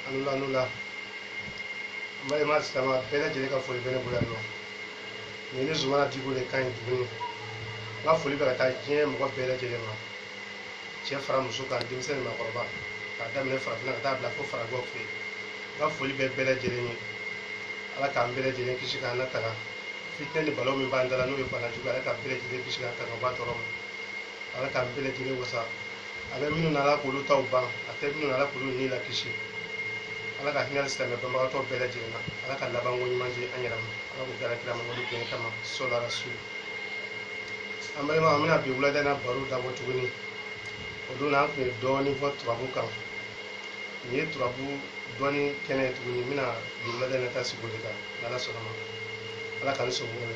A ni wula a ni wula n balima silamɛ bɛɛ lajɛlen ka foli bɛ ne bolo yan nɔ nin ye ne zumana diko de kan ye tuguni n ka foli bɛ ka taa diɲɛ mɔgɔ bɛɛ lajɛlen ma cɛ fara muso kan denmisɛnnin maakɔrɔba k'a daminɛ farafinna ka taa bila fo farajɛw fɛ yen n ka foli bɛ bɛɛ lajɛlen ye ala k'an bɛɛ lajɛlen kisi k'an latanga fitinɛ ni balawu min b'an da la n'o ye bana jugu ye ala k'an bɛɛ lajɛlen kisi k'an tanga bɔ a tɔɔrɔ ma ala k'an bɛɛ lajɛlen wasa a bɛ minnu na ala k'olu ta ban a tɛ minnu na ala k'olu ni lakisi ala ka hinɛ silamɛ banbagatɔ bɛɛ lajɛlen na ala ka labanko ɲuman di an yɛrɛ ma ala k'o kɛra kira mamadu bonya kama sɔla rasul an balima an bɛna bi wulada na baro dabɔ tuguni o don na an tun ye dɔɔnin fɔ turabu kan nin ye turabu dɔnni kɛnɛ ye tuguni n bɛna bi wulada na ta sigi o de kan n'ala sɔnna a ma ala k'an sɔn o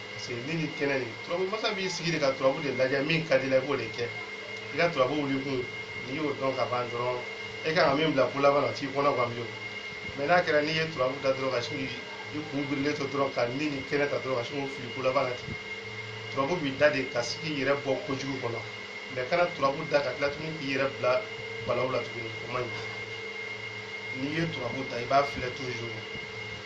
parce que ni ni kɛnɛ de turabu masa b'i sigi de ka turabu de lajɛ min ka di la i b'o de kɛ i ka turabu wuli kun n'i y'o dɔn ka ban dɔrɔn e kan ka min bila ko laban na t'i kɔnɔ gan bilen mɛ n'a kɛra n'i ye turabu da dɔrɔn ka sin k'i kun birilen to dɔrɔn ka ni ni kɛnɛ ta dɔrɔn ka sin k'o fili ko laban na ten turabu bɛ da de ka se k'i yɛrɛ bɔ kojugu kɔnɔ mɛ kana turabu da ka tila tuguni k'i yɛrɛ bila balawu la tuguni o man ɲi n'i ye turabu da i b'a filɛ toujours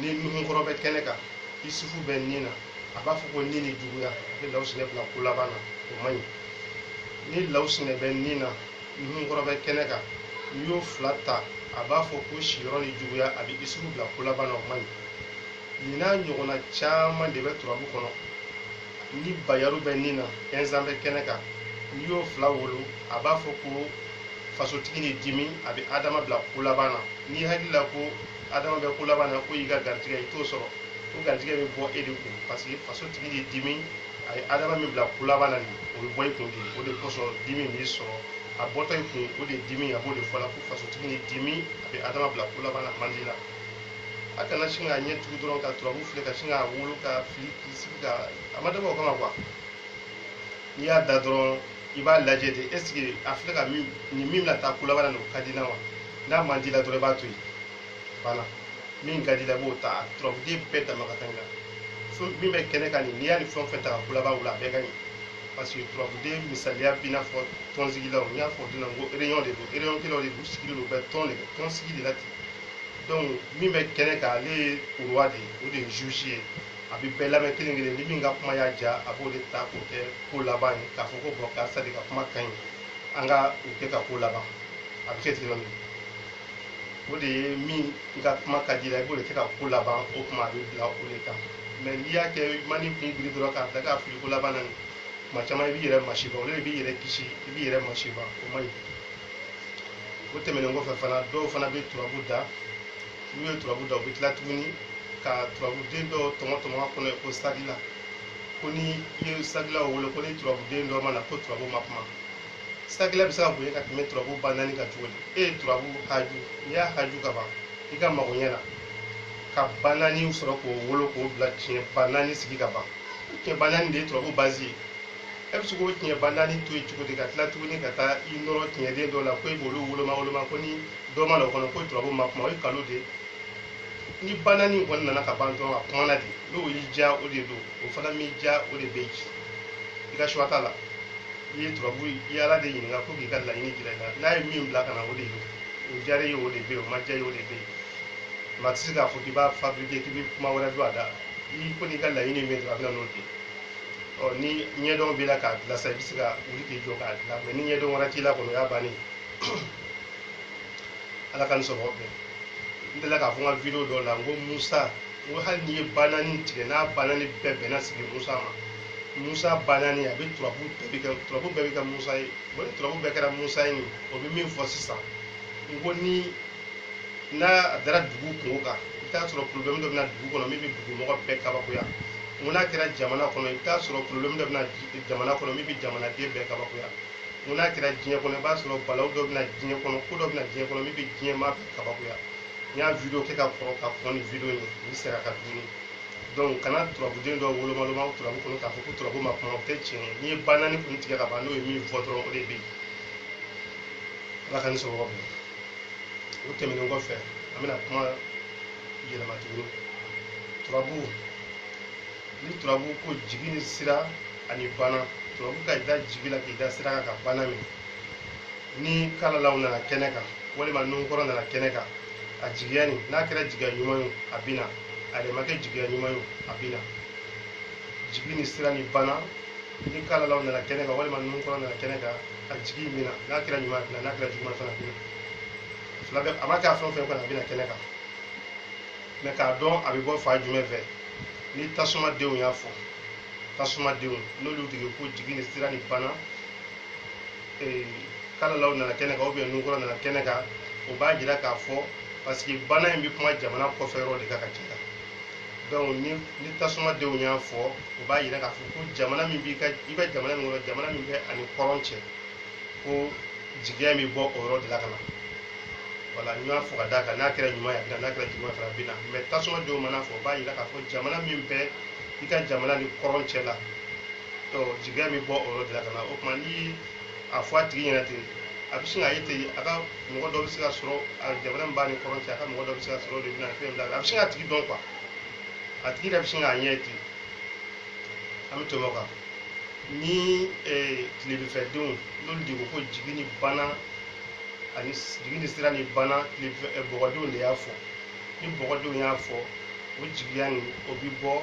ni nuhunkɔrɔ bɛ kɛnɛ kan isufu bɛ nin na a b'a fɔ ko ni ni juguya a bɛ lawusinɛ bila ko laban na o man ɲi ni lawusinɛ bɛ nin na nuhunkɔrɔ bɛ kɛnɛ kan n'i y'o fila ta a b'a fɔ ko siyɔrɔ ni juguya a bɛ isufu bila ko laban na o man ɲi nin n'a ɲɔgɔnna caman de bɛ turabu kɔnɔ ni bayaru bɛ nin na ɛnzan bɛ kɛnɛ kan n'i y'o fila wolo a b'a fɔ ko fasotigi ni dimi a bɛ adama bila ko laban na n'i hakili la ko adama bɛ ko laban na k'o y'i ka garijɛgɛ i t'o sɔrɔ o garijɛgɛ bɛ bɔ e de kun parce que fasotigi ni dimi a ye adama min bila ko laban na nin o bɛ bɔ i kun de o de kosɔn dimi b'i sɔrɔ a bɔtɔ i kun o de dimi a b'o de fɔ la ko fasotigi ni dimi a bɛ adama bila ko laban na man di la a kana sin k'a ɲɛ tugu dɔrɔn ka turabu filɛ ka sin k'a wolo ka fili k'i sigi ka a ma dabɔ o kama quoi n'i y'a da dɔrɔn i b'a lajɛ de est ce que a filɛ ka min nin min bɛna taa ko laban na nin o ka di na wa n'a man di la dɔrɔn i b'a to yen voilà min ka di la i b'o ta turabuden bɛɛ dama ka kan i la fɛn min bɛ kɛnɛ kan nin n'i y'a ni fɛn o fɛn ta ka ko laban wolo a bɛɛ ka ɲi parce que turabuden misaliya b'i n'a fɔ tɔnsigilaw n y'a fɔ don na n ko réunion de don réunion kɛlaw de don u sigilen don u bɛ tɔn de kɛ tɔnsigi de la ten donc min bɛ kɛnɛ kan ale ye roi de ye o de ye juge ye a bɛ bɛɛ lamɛn kelen kelen ni min ka kuma y'a diya a b'o de ta k'o kɛ ko laban ye k'a fɔ ko bɔn karisa de ka kuma ka ɲi an ka o kɛ ka ko laban a bɛ kɛ ten nɔ o de ye min ka kuma ka di la i b'o de kɛ ka ko laban o kuma a bɛ bila o de kan mɛ n'i y'a kɛ mani kun biri dɔrɔn k'a da k'a fili ko laban na nin kuma caman i b'i yɛrɛ masiba olu de b'i yɛrɛ kisi i b'i yɛrɛ masiba o man ɲi o tɛmɛnen kɔfɛ fana dɔw fana bɛ turabu da n'u ye turabu da u bɛ tila tuguni ka turabuden dɔ tɔmɔ tɔmɔ a kɔnɔ ko sagila ko ni i ye sagilaw wolo ko ni turabuden dɔ ma na ko turabu ma kuma sagila bɛ se ka bonya ka tɛmɛ turabu ba naani kan cogo di e ye turabu haju n'i y'a haju ka ban i ka magoɲɛ na ka ba naani sɔrɔ k'o wolo k'o bila tiɲɛ ba naani sigi ka ban tiɲɛ ba naani de ye turabu bazi ye e bɛ se k'o tiɲɛ ba naani to yen cogo di ka tila tuguni ka taa i nɔrɔ tiɲɛden dɔ la ko i b'olu woloma woloma ko ni dɔ ma na o kɔnɔ ko turabu ma kuma o ye nkalon de ye ni ba naani kɔni nana ka ban dɔrɔn a kumana de n'o y'i diya o de don o fana m'i diya o de bɛ yen i ka choix t'a la i ye turabu i ye ala de ɲininka ko k'i ka laɲini jira i la n'a ye min bila ka na o de ye o diyara i ye o de bɛ yen o ma diya i ye o de bɛ yen maa tɛ se k'a fɔ k'i b'a fabriquer k'i bɛ kuma wɛrɛ don a da i ko n'i ka laɲini ye min ye dɔrɔn a bɛ na n'o de ye ɔ ni ɲɛdɔn b'i la k'a dilan sa i bɛ se ka wuli k'i jɔ k'a dilan mɛ ni ɲɛdɔn wɛrɛ t'i la kɔni o y'a bannen ala k'an ni sɔrɔ bɛn n delila k'a fɔ n ka video dɔ la n ko musa n ko hali n'i ye ba naani tigɛ n'a ba naani bɛɛ bɛnna sigi musa ma musa ba naani a bɛ turabu bɛɛ bɛ kɛ musa ye o ni turabu bɛɛ kɛra musa ye nin o bɛ min fɔ sisan n ko ni n'a dara dugu kunko kan i bɛ t'a sɔrɔ porobilɛmu dɔ bɛ na dugu kɔnɔ min bɛ dugumɔgɔ bɛɛ kabakoya n ko n'a kɛra jamana kɔnɔ i bɛ t'a sɔrɔ porobilɛmu dɔ bɛ na jamana kɔnɔ min bɛ jamanaden bɛɛ kabakoya n ko n'a kɛra diɲɛ kɔnɔ i b'a sɔrɔ balawu dɔ bɛ na diɲɛ kɔnɔ ko dɔ bɛ na diɲɛ kɔnɔ min bɛ diɲɛ maa bɛɛ kabakoya n y'a video kɛ ka kɔrɔ ka kɔn ni video in n sera a kan tuguni donc kana turabuden dɔ woloma woloma turabu kɔnɔ k'a fɔ ko turabu ma kuma o tɛ tiɲɛ ye n'i ye ba naani kun tigɛ ka ban n'o ye min fɔ dɔrɔn o de bɛ yen ala k'an ni sɔrɔ bɛn o tɛmɛnen kɔfɛ an bɛna kuma yɛlɛma tuguni turabu ni turabu ko jigi ni sira ani bana turabu ka i da jigi la k'i da sira kan ka bana minɛ ni kalalaw nana kɛnɛ kan walima nunkɔrɔ nana kɛnɛ kan a jigiya nin n'a kɛra jigiya ɲuman ye a bɛ na a yɛrɛ ma kɛ jigiya ɲuman ye a bɛ na jigi ni sira ni bana ni kalalaw nana kɛnɛ kan walima nunkɔrɔ nana kɛnɛ kan a jigi in bɛ na n'a kɛra ɲuman a bɛ na n'a kɛra juguman fana bɛ na fila bɛɛ a ma kɛ a fɛn o fɛn kɔnɔ a bɛ na kɛnɛ kan mɛ k'a dɔn a bɛ bɔ fan jumɛn fɛ ni tasuma denw y'a fɔ tasuma denw n'olu tigi ko jigi ni sira ni bana ee, kalalaw nana kɛnɛ kan ubiyɛn nunkɔrɔ nana kɛnɛ kan o b'a jira k'a fɔ paseke bana in bɛ kuma jamana kɔfɛ yɔrɔ de kan ka caya donc ni ni tasumadenw y'a fɔ o b'a yira k'a fɔ ko jamana min b'i ka i bɛ jamana min kɔnɔ jamana min bɛ a ni kɔrɔn cɛ ko jigiya bɛ bɔ o yɔrɔ de la ka na voilà n y'a fɔ ka d'a kan n'a kɛra ɲuman ye a bɛ na n'a kɛra juguman fana bɛ na mais tasumadenw mana fɔ o b'a yira k'a fɔ jamana min bɛ i ka jamana ni kɔrɔn cɛ la jigiya bɛ bɔ o yɔrɔ de la ka na o tuma ni a fɔ a tigi ɲɛna ten a bɛ sin k'a ye ten a ka mɔgɔ dɔ bɛ se ka sɔrɔ a jamana min b'a ni kɔrɔn cɛ a ka mɔgɔ dɔ bɛ se ka sɔrɔ o de bɛ na fɛn bila a bɛ sin k'a tigi dɔn quoi a tigi yɛrɛ bɛ sin k'a ɲɛ ye ten an bɛ tɛmɛ o kan ni tilebifɛdenw n'olu de ko ko jigi ni bana ani jigi ni sira ni bana tilebifɛ bɔgɔdenw de y'a fɔ ni bɔgɔdenw y'a fɔ o jigiya nin o bɛ bɔ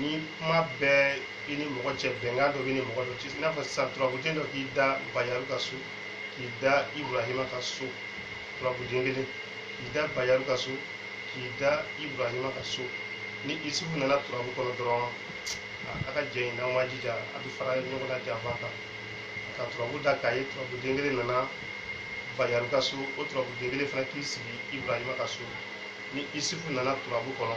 ni kuma bɛ i ni mɔgɔ cɛ bɛnkan dɔ b'i ni mɔgɔ dɔ cɛ i n'a fɔ sisan turabuden dɔ k'i da bayaru ka so k'i da iburahima ka so turabuden kelen k'i da bayaru ka so k'i da iburahima ka so ni isufu nana turabu kɔnɔ dɔrɔn a ka jɛ in n'aw ma jija a bɛ fara ɲɔgɔn na janfa kan ka turabu da k'a ye turabuden kelen nana bayaru ka so o turabuden kelen fana k'i sigi iburahima ka so ni isufu nana turabu kɔnɔ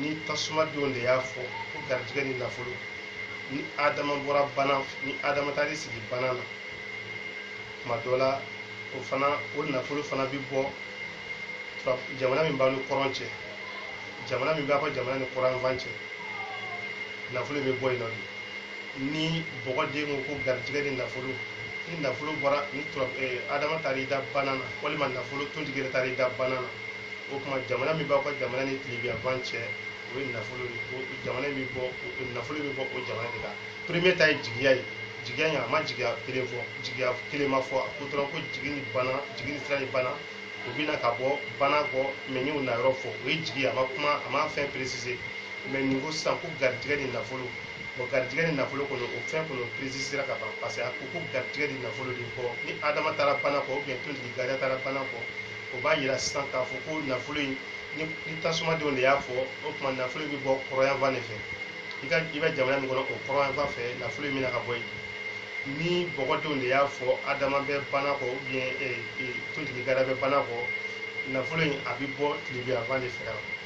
ni tasumadenw de y'a fɔ ko garijɛgɛ ni nafolo ni adama bɔra bana ni adama taar'i sigi bana na tuma dɔ la o fana o nafolo fana bɛ bɔ jamana min b'a ni kɔrɔn cɛ jamana min b'a ka jamana ni kɔrɔnfan cɛ nafolo bɛ bɔ yen nɔ de ni bɔgɔden ko ko garijɛgɛ ni nafolo ni nafolo bɔra ni adama taar'i da bana na walima nafolo tontigi yɛrɛ taar'i da bana na o kuma jamana min b'aw ka jamana ni tilebiyanfan cɛ o ye nafolo jamana bɛ bɔ nafolo bɛ bɔ o jamana de kan premier ta ye jigiya ye jigiya in a ma jigiya kelen fɔ jigiya kelen ma fɔ a ko dɔrɔn ko jigi ni bana jigi ni sira ni bana o bɛ na ka bɔ banakɔ mais n y'o na yɔrɔ fɔ o ye jigi a ma kuma a ma fɛn préciser mais nin ko sisan ko garijɛgɛ ni nafolo bon garijɛgɛ ni nafolo kɔnɔ o fɛn kɔnɔ précisera ka ban parce que a ko ko garijɛgɛ ni nafolo de ko ni adama taara bana kɔ ou bien tontigi gariya taara bana kɔ o b'a yira sisan k'a fɔ ko nafolo in ni ni tasumadenw de y'a fɔ o tuma nafolo in bɛ bɔ kɔrɔyanfan de fɛ i ka i bɛ jamana min kɔnɔ o kɔrɔyanfan fɛ nafolo in bɛna ka bɔ yen ni bɔgɔdenw de y'a fɔ adama bɛ bana kɔ ou bien ee ee tontigi gariya bɛ bana kɔ nafolo in a bɛ bɔ tilibiyanfan de fɛ yan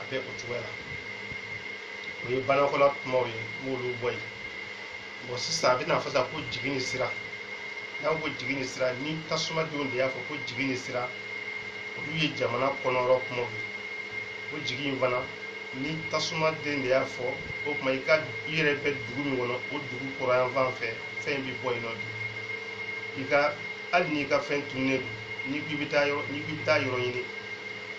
a bɛ o cogoya la o ye banakɔla kumaw ye n b'olu bɔ yen bon sisan a bɛ n'a fɔ sa ko jigi ni sira n'a ko jigi ni sira ni tasumadenw de y'a fɔ ko jigi ni sira olu ye jamana kɔnɔyɔrɔ kumaw ye o jigi in fana ni tasumaden de y'a fɔ o tuma i ka i yɛrɛ bɛ dugu min kɔnɔ o dugu kɔrɔyanfan fɛ fɛn bɛ bɔ yen nɔ de i ka hali n'i ka fɛn tunnen don n'i k'i bɛ taa yɔrɔ n'i k'i bɛ taa yɔrɔ ɲini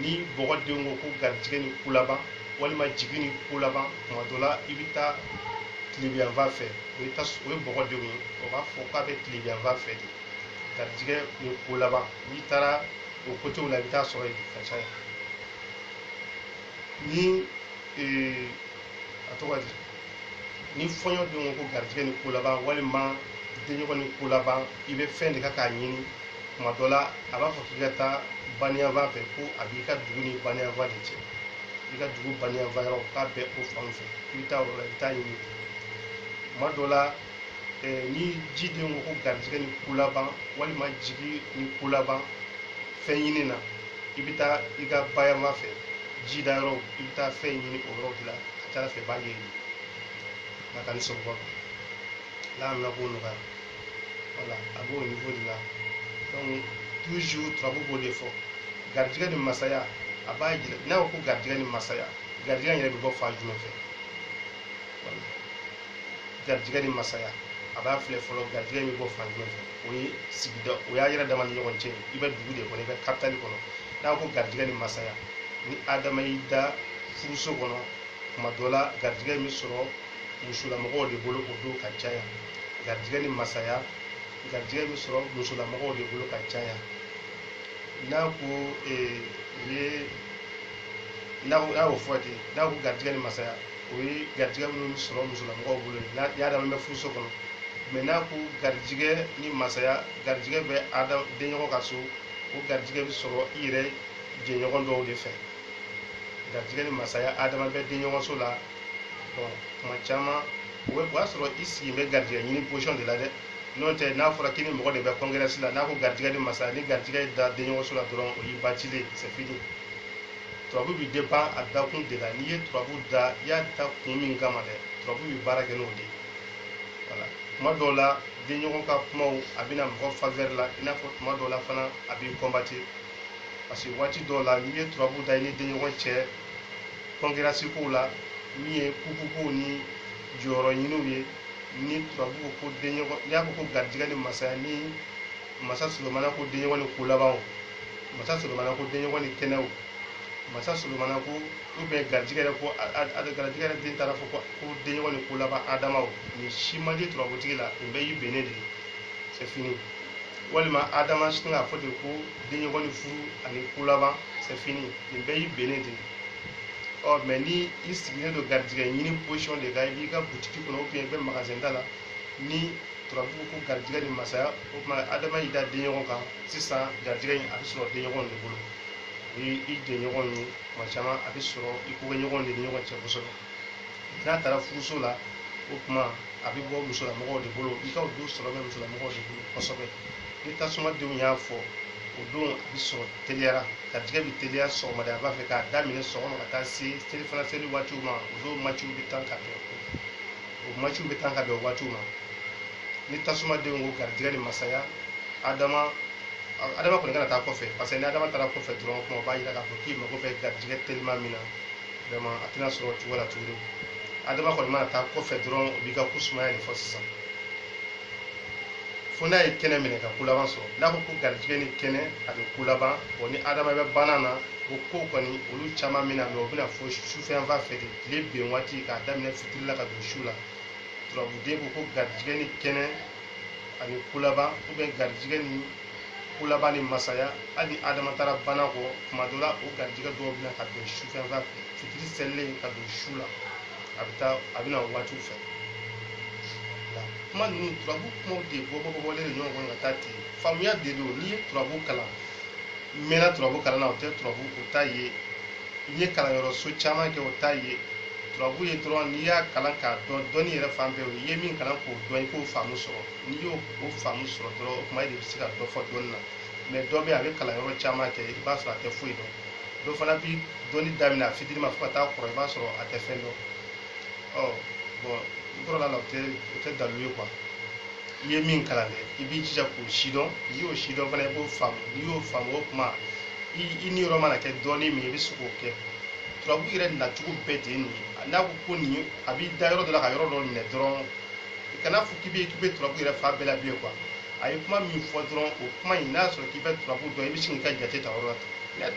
ni bɔgɔ denw ko ko garijigɛ ni ko laban walima jigi ni ko laban tuma dɔ la i bɛ taa tilebinyanfan fɛ o ye tas o ye bɔgɔ denw ye o b'a fɔ k'a bɛ tilebinyanfan fɛ de garijigɛ ni ko laban n'i taara o kotew la i bɛ taa sɔrɔ yen ka caya ni ee a tɔgɔ di ni fɔɲɔ denw ko garijɛgɛ ni ko laban walima denɲɔgɔn ni ko laban i bɛ fɛn de ka k'a ɲini tuma dɔ la a b'a fɔ k'i ka taa baniyanfan fɛ ko a b'i ka dugu ni baniyanfan de cɛ i ka dugu baniyanfan yɔrɔ k'a bɛ o fan fɛ i bɛ taa o la i bɛ taa ɲini tuma dɔ la ni ji denw ko ko garijɛgɛ ni ko laban walima jigi ni ko laban fɛn ɲini na i bɛ taa i ka bayanfan fɛ ji da yɔrɔ i bɛ taa fɛn ɲini o yɔrɔ de la ka ca ala fɛ i b'a ɲɛɲini nka ka ni sababu la na b'o nɔgɔya voilà a b'o niveau de la donc toujours turabu b'o de fɔ garijɛgɛ ni masaya a b'a jira n'a ko ko garijɛgɛ ni masaya garijɛgɛ in yɛrɛ bɛ bɔ fan jumɛn fɛ voilà garijɛgɛ ni masaya a b'a filɛ fɔlɔ garijɛgɛ bɛ bɔ fan jumɛn fɛ o ye sigida o y'a yɛrɛ dama ni ɲɔgɔn cɛ i bɛ dugu de kɔnɔ i bɛ kapitali kɔnɔ n'a ko garijɛgɛ ni masaya ni adama y'i da furuso kɔnɔ tuma dɔ la garijɛgɛ bɛ sɔrɔ musolamɔgɔw de bolo o don ka caya garijɛgɛ ni masaya garijɛgɛ bɛ sɔrɔ musolamɔgɔw de bolo ka caya n'a ko ee u ye n'a ko n'a y'o fɔ ten n'a ko garijɛgɛ ni masaya o ye garijɛgɛ minnu bɛ sɔrɔ musolamɔgɔw bolo ye ni adama bɛ furuso kɔnɔ mais n'a ko garijɛgɛ ni masaya garijɛgɛ bɛ da denɲɔgɔn ka so o garijɛgɛ bɛ sɔrɔ i yɛrɛ jɛɲɔgɔn dɔw de fɛ garijɛgɛ ni masaya adama bɛ denɲɔgɔn so la bon tuma caman o bɛ o y'a sɔrɔ i sigilen bɛ garijɛgɛ ɲini position de la dɛ n'o tɛ n'a fɔra k'i ni mɔgɔ de bɛ concurrence la n'a ko garijɛgɛ ni masaya ni garijɛgɛ da denɲɔgɔn so la dɔrɔn o y'i batilen c'est fini turabu bi dépend a dakun de la n'i ye turabu da i y'a da kun min kama dɛ turabu bi baara kɛ n'o de ye voilà tuma dɔw la denɲɔgɔn ka kumaw a bɛ na mɔgɔ faveur la i n'a fɔ tuma dɔw la fana a b'i combattre parce que waati dɔw la n'i ye turabu da i ni denɲɔgɔn cɛ concurrence kow la min ye kuku kow ni jɔyɔrɔ ɲiniw ye ni turabu ko ko denɲɔgɔn n'i y'a fɔ ko garijigɛ ni masaya ni masa solomana ko denɲɔgɔn ni ko labanw masa solomana ko denɲɔgɔn ni kɛnɛw masa solomana ko ou bien garijigɛ yɛrɛ ko garijigɛ yɛrɛ den taara fɔ ko denɲɔgɔn ni ko laban adamaw nin si man di turabutigi la nin bɛɛ y'i bennen de ye c'est fini walima adama sin k'a fɔ de ko denɲɔgɔn ni furu ani ko laban c'est fini nin bɛɛ y'i bennen de ye ɔ mais ni i sigilen don garijigɛ ɲini position de kan i b'i ka butiki kɔnɔ ou bien i bɛ magasin da la ni turabu ko garijigɛ ni masaya o tuma adama y'i da denɲɔgɔn kan sisan garijɛgɛ in a bɛ sɔrɔ denɲɔgɔn de bolo o ye i jɛɲɔgɔn ye kuma caman a bɛ sɔrɔ i kokɛɲɔgɔn de ni ɲɔgɔn cɛ kosɛbɛ n'a taara furuso la o tuma a bɛ bɔ musolamɔgɔw de bolo i ka o don sɔrɔ bɛ musolamɔgɔw de bolo kosɛbɛ ni tasumadenw y'a fɔ o don a bɛ sɔrɔ teliyara garijɛgɛ bɛ teliya sɔgɔmada a b'a fɛ k'a daminɛ sɔgɔma ka taa se selifana seli waatiw ma o don maciw bɛ tan ka bɛn o maciw bɛ tan ka bɛn o waatiw ma ni tasumaden ko garijɛgɛ ni masaya adama adama kɔni kana taa kɔfɛ parce que ni adama taara kɔfɛ dɔrɔn kuma o b'a jira k'a fɔ k'i mago bɛ garijɛgɛ telima min na vraiment a tɛna sɔrɔ o cogo la tuguni adama kɔni mana taa kɔfɛ dɔrɔn o b'i ka ko sumaya de fɔ sisan fo n'a ye kɛnɛ minɛ ka ko laban sɔrɔ n'a ko ko garijɛgɛ ni kɛnɛ a bɛ ko laban ni adama bɛ bana na o ko kɔni olu caman min na mais o bɛ na fo sufɛ yan fan fɛ de tilebin waati k'a daminɛ fitiri la ka don su la turabuden ko ko garijɛgɛ ni kɛnɛ ani ko laban ou bien garijɛgɛ ni ko laban ni masaya hali ni adama taara bana kɔ kuma dɔ la o garijigɛ dɔw bɛ na ka bɛn sufɛ yan fan fɛ fitiri selilen ka don su la a bɛ taa a bɛ na o waatiw fɛ la kuma ninnu turabu kumaw de bɔbɔbɔbɔlen don ɲɔgɔn kɔnɔ ka taa ten faamuya de don ne ye turabu kalan n mɛnna turabu kalan na o tɛ turabu o t'a ye n ye kalanyɔrɔso caman kɛ o t'a ye turabu ye dɔrɔn n'i y'a kalan k'a dɔn dɔnni yɛrɛ fan bɛɛ i ye min kalan k'o dɔn i k'o faamu sɔrɔ n'i y'o faamu sɔrɔ dɔrɔn o tuma e de bɛ se ka dɔ fɔ dɔnni na mais dɔ bɛ yen a bɛ kalanyɔrɔ caman kɛ i b'a sɔrɔ a tɛ foyi dɔn dɔ fana bɛ dɔnni daminɛ a fitinin ma fo ka taa kɔrɔ i b'a sɔrɔ a tɛ fɛn dɔn ɔ bon n kɔrɔla a la o tɛ o tɛ dalu ye quoi i ye min kalan dɛ i b'i jija k'o sidɔn n'i y'o sidɔn fana i b'o faamu n'i y'o faamu o kuma i i niyɔrɔ mana kɛ dɔɔnin min i bɛ se k'o kɛ turabu yɛrɛ nacogo bɛɛ de ye nin ye n'a ko ko nin ye a b'i da yɔrɔ dɔ la ka yɔrɔ dɔ minɛ dɔrɔn i kana fɔ k'i bɛ k'i bɛ turabu yɛrɛ fan bɛɛ la bilen quoi a ye kuma min fɔ dɔrɔn o kuma in n'a sɔrɔ k'i bɛ turabu dɔn i bɛ sin k'i ka jate ta yɔrɔ la ten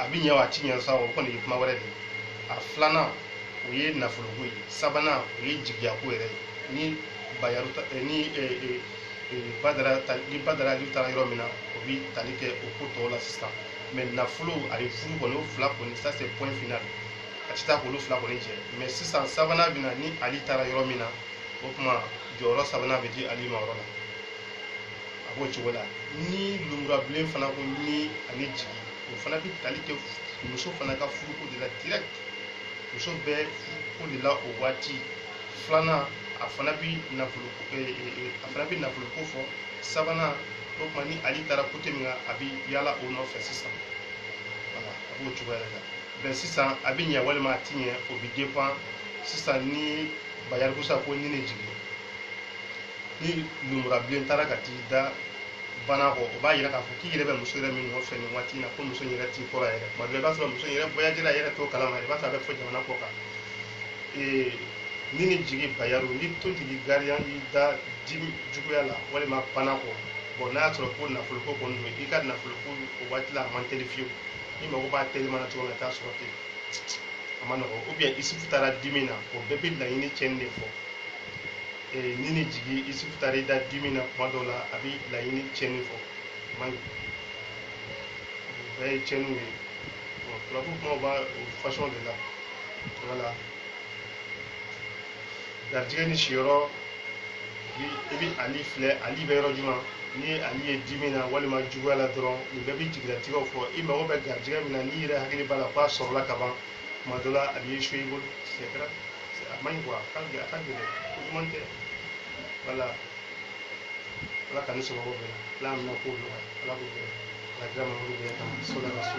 a bɛ ɲɛ wa a ti ɲɛ sa o kɔni ye kuma wɛrɛ de ye a filanan o ye nafoloko ye sabanan o ye jigiyako yɛrɛ ye ni bayaru ta eh, ni eh, eh, eh, badara ta ni badara ali taara yɔrɔ min na o bi tali kɛ o ko tɔw la sisan mais nafolo ani furu kɔni o fila kɔni ça c'est point final a ti taa k'olu fila kɔni jɛ mais sisan sabanan bɛ na ni ali taara yɔrɔ min na o tuma jɔyɔrɔ sabanan bɛ di ali ma yɔrɔ la a b'o cogo la ni lumurabilen fana ko ni ani jigi o fana bɛ tali kɛ muso fana ka furuko de la direct muso bɛ furuko de la o waati filanan a fana bɛ nafolo a fana bɛ nafoloko fɔ sabanan o tuma ni ali taara côté min kan a bɛ yaala o nɔfɛ sisan voilà a b'o cogoya de la bɛn sisan a bɛ ɲɛ walima a ti ɲɛ o bɛ dépend sisan ni bayarikusa ko ni ne jigin ni lumura bilen taara ka t'i da bana kɔ o b'a yira k'a fɔ k'i yɛrɛ bɛ muso yɛrɛ min nɔfɛ nin waati in na ko muso in yɛrɛ t'i kɔrɔ yɛrɛ tuma dɔ i b'a sɔrɔ muso in yɛrɛ voyagera yɛrɛ t'o kalama i b'a sɔrɔ a bɛ fo jamana kɔkan ee ni ni jigi bayaru ni tontigi gariya y'i da dimi juguya la walima bana kɔ bon n'a y'a sɔrɔ ko nafoloko kɔni don i ka nafoloko o waati la a man teli fiyewu i mago b'a telima na cogo min na i t'a sɔrɔ ten a ma nɔgɔ ou bien isufu taara dimi na o bɛɛ bɛ laɲini cɛnni de fɔ ee, ni ni jigi isufu taara i da dimi na kuma dɔw la a bɛ laɲini tiɲɛni fɔ o man ɲi o bɛɛ ye tiɲɛniw ye bon turabu kumaw b'a o fasɔn de la voilà garijɛgɛ ni siyɔrɔ i bɛ ali filɛ ali bɛ yɔrɔ jumɛn ni ali ye dimi na walima juguya la dɔrɔn nin bɛɛ bɛ jigilatigɛw fɔ i mago bɛ garijɛgɛ min na n'i yɛrɛ hakili b'a la k'a sɔrɔla ka ban kuma dɔ la a bɛ échoué i bolo c'est grave C'est- a man ɲi quoi a ka gɛlɛn a ka gɛlɛn ko duman tɛ voilà ala ka ne sababu bɛɛ la ala mina ko nɔgɔya ala k'o kɛ ala kira mamadu bɛɛ kama sola ka so